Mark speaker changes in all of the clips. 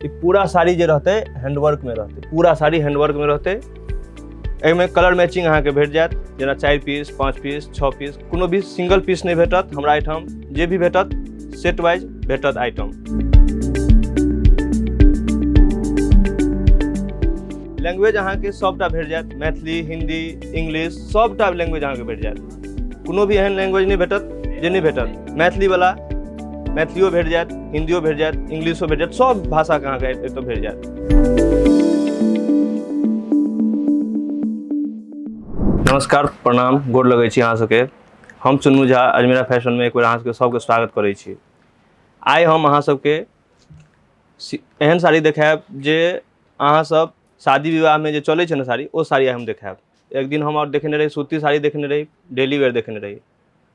Speaker 1: ई पूरा साड़ी जे रहतै हैंडवर्कमे रहतै पूरा साड़ी हैंडवर्कमे रहतै एहिमे कलर मैचिंग अहाँके भेट जायत जेना चारि पीस पाँच पीस छओ पीस कोनो भी सिंगल पीस नहि भेटत हमरा एहिठाम जे भी भेटत सेट वाइज भेटत आइटम लैंग्वेज अहाँके सभटा भेट जायत मैथिली हिन्दी इंग्लिश सभटा लैंग्वेज अहाँके भेट जायत कोनो भी एहन लैंग्वेज नहि भेटत जे नहि भेटत मैथिलीवला मैथिलियो भेट जायत हिन्दियो भेट जायत इंग्लिशो भेट जायत सभ भाषाके अहाँके एतय भेट जायत नमस्कार प्रणाम गोर लगै छी अहाँ सबके हम चुन्नू झा अजमेरा फैशनमे एक बेर अहाँ सबके सबके स्वागत करै छी आइ हम अहाँ सबके सी- एहन साड़ी देखायब जे अहाँ सब शादी विवाहमे जे चलै छै ने साड़ी ओ साड़ी आइ हम देखायब एक दिन हम आओर देखने रही सूती साड़ी देखने रही डेली वेयर देखने रही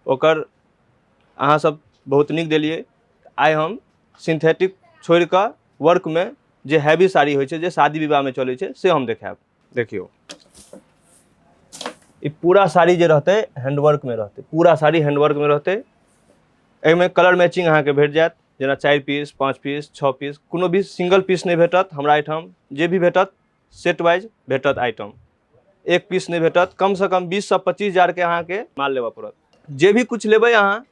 Speaker 1: ओकर अहाँ सब बहुत नीक देलियै आइ हम सिंथेटिक छोड़ि कऽ वर्कमे जे हैवी साड़ी होइ छै जे शादी विवाहमे चलै छै से हम देखायब देखियौ ई पूरा साड़ी जे रहतै हैंडवर्कमे रहतै पूरा साड़ी हैंडवर्कमे रहतै एहिमे कलर मैचिंग अहाँके भेट जायत जेना चारि पीस पाँच पीस छओ पीस कोनो भी सिंगल पीस नहि भेटत हमरा एहिठाम जे भी भेटत सेट वाइज भेटत आइटम एक पीस नहि भेटत कमसँ कम बीससँ पच्चीस हजारके अहाँके माल लेबऽ पड़त जे भी किछु लेबै अहाँ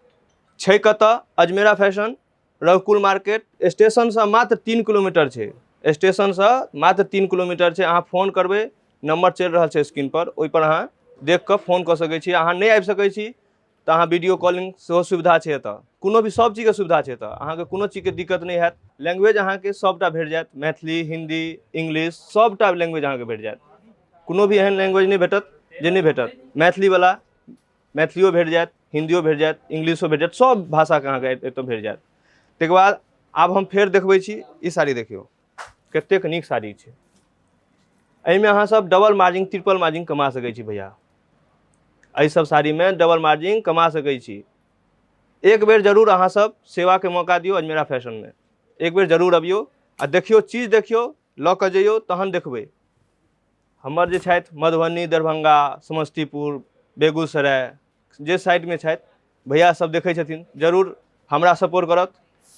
Speaker 1: छै कतऽ अजमेरा फैशन रघुकुल मार्केट स्टेशनसँ मात्र तीन किलोमीटर छै स्टेशनसँ मात्र तीन किलोमीटर छै अहाँ फोन करबै नम्बर चलि रहल छै स्क्रीनपर ओहिपर अहाँ देखि कऽ फोन कऽ सकै छी अहाँ नहि आबि सकै छी तऽ अहाँ वीडियो कॉलिंग सेहो सुविधा छै एतऽ कोनो भी सब चीजके सुविधा छै एतऽ अहाँके कोनो चीजके दिक्कत नहि हैत लैंग्वेज अहाँके सबटा भेट जायत मैथिली हिन्दी इंग्लिश सबटा लैंग्वेज अहाँके भेट जायत कोनो भी एहन लैंग्वेज नहि भेटत जे नहि भेटत मैथिलीवला मैथिलियो भेट जायत हिन्दियो भेट जायत इंग्लिशो भेट जायत सब भाषाके अहाँके एतऽ भेट जायत तैके बाद आब हम फेर देखबै छी ई साड़ी देखियौ कतेक नीक साड़ी छै एहिमे अहाँसभ डबल मार्जिन ट्रिपल मार्जिन कमा सकै छी भैया एहिसभ साड़ीमे डबल मार्जिन कमा सकै छी एक बेर जरूर अहाँसभ सेवाके मौका दियौ अजमेरा फैशनमे एक बेर जरूर अबियौ आ देखियौ चीज देखियौ लऽ कऽ जइयौ तहन देखबै हमर जे छथि मधुबनी दरभंगा समस्तीपुर बेगूसराय जे साइडमे छथि भैया सब देखै छथिन जरूर हमरा सपोर्ट करत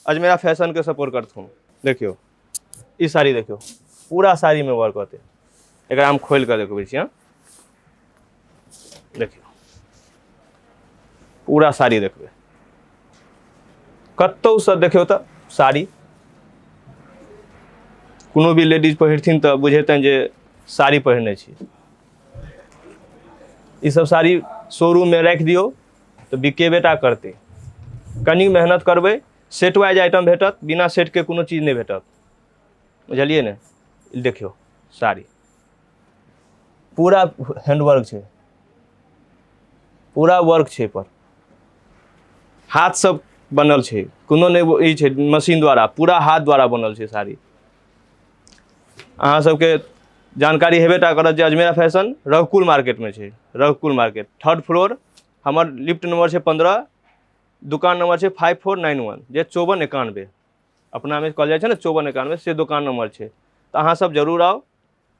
Speaker 1: अजमेरा फैशनके सपोर्ट करथुन देखियौ ई साड़ी देखियौ पूरा साड़ीमे वर्क होतै एकरा हम खोलि कऽ देखबै छी हँ देखियौ पूरा साड़ी देखबै कतहुसँ देखियौ तऽ साड़ी कोनो भी लेडीज पहिरथिन तऽ बुझेतनि जे साड़ी पहिरने छी ई सब साड़ी शोरूममे राखि दियौ तऽ बिकेबे टा करतै कनी मेहनत करबै सेट वाइज आइटम भेटत बिना सेटके कोनो चीज नहि भेटत बुझलियै ने ई देखियौ साड़ी पूरा हैंडवर्क छै पूरा वर्क छै पर हाथ सब बनल छै कोनो नहि वो- ई छै मशीन द्वारा पूरा हाथ द्वारा बनल छै साड़ी अहाँ सबके जानकारी हेबे टा करत जे अजमेरा फैशन रघुकुल मार्केटमे छै रघुकुल मार्केट थर्ड फ्लोर हमर लिफ्ट नंबर छै पंद्रह दुकान नंबर छै फाइव फोर नाइन वन जे चौवन एकानबे अपनामे कहल जाइ छै ने चौवन एकानबे से दोकान नंबर छै तऽ अहाँ सब जरूर आउ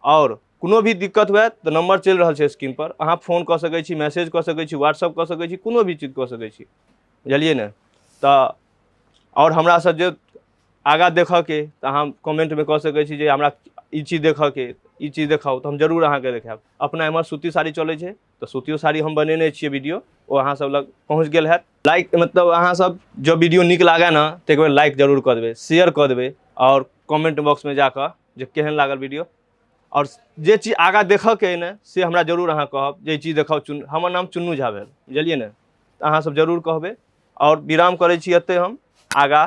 Speaker 1: आओर कोनो भी दिक्कत हुए तऽ नंबर चलि रहल छै स्क्रीन पर अहाँ फोन कऽ सकै छी मैसेज कऽ सकै छी व्हाट्सअप कऽ सकै छी कोनो भी चीज कऽ सकै छी बुझलियै ने तऽ आओर हमरा सब जे आगाँ देखऽके तऽ अहाँ कमेन्टमे कऽ सकै छी जे हमरा ई चीज देखऽके ई चीज देखाउ तऽ हम जरूर अहाँके देखायब अपना एमहर सूती साड़ी चलै छै तऽ सूतियो साड़ी हम बनेने छियै वीडियो ओ अहाँ सब लग पहुँच गेल हैत लाइक मतलब अहाँ सब जब वीडियो नीक लागै ने तऽ एक बेर लाइक जरूर कऽ देबै शेयर कऽ देबै आओर कमेन्ट बॉक्समे जाकऽ जे केहन लागल वीडियो आओर जे चीज आगाँ देखऽके अइ ने से हमरा जरूर अहाँ कहब जे ई चीज देखाउ चुन हमर नाम चुन्नू झा भेल बुझलियै ने तऽ अहाँ सब जरूर कहबै आओर विराम करै छी एतै हम आगाँ